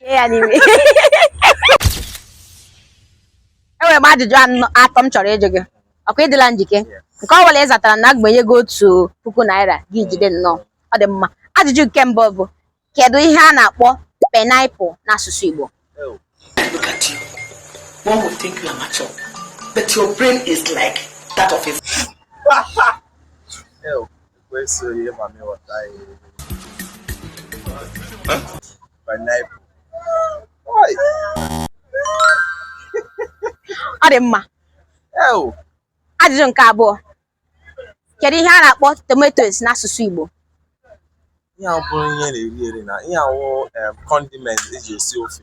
Anyway. Enwere m ajụjụ atọ m chọrọ ịjụ gị. Ọ kwa ị dịla njike? Nke ọ bụla ị zatara na agbanye gị ego otu puku naira gị jide nnọọ. Ọ dị mma. Ajụjụ nke mbụ bụ kedu ihe a na-akpọ pineapple n'asụsụ Igbo? Look at you. One would think you are mature, but your brain is like that of a. ọ dị mma ajụjụ nke abụọ kedu ihe a na-akpọ tomatoes n'asụsụ Igbo ihe a bụrụ ihe a na-eri eri na ihe a wụ condiment e ji esi ofe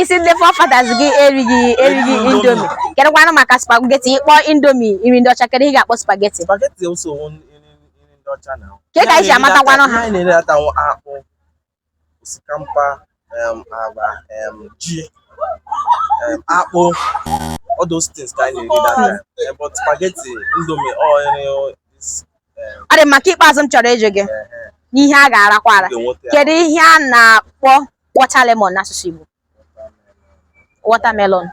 ị sị ndị forefathers gị erighị Indomie kedụkwanụ maka spaghetti ị kpọ Indomie nri ndị ọcha kedụ ihe ị ga-akpọ spaghetti ke ka i si amatakwanụ ha osikapa agwa ji akpụ all those things ka anyị na-eri that time but spaghetti Indomie all ọ dị mma nke ikpeazụ m chọrọ ịjụ gị n'ihe a ga-arakwa ara kedu ihe a na-akpọ water lemon n'asụsụ Igbo watermelon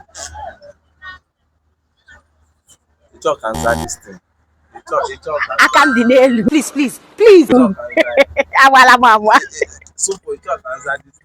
aka m dị n'elu please please please agwala m agwa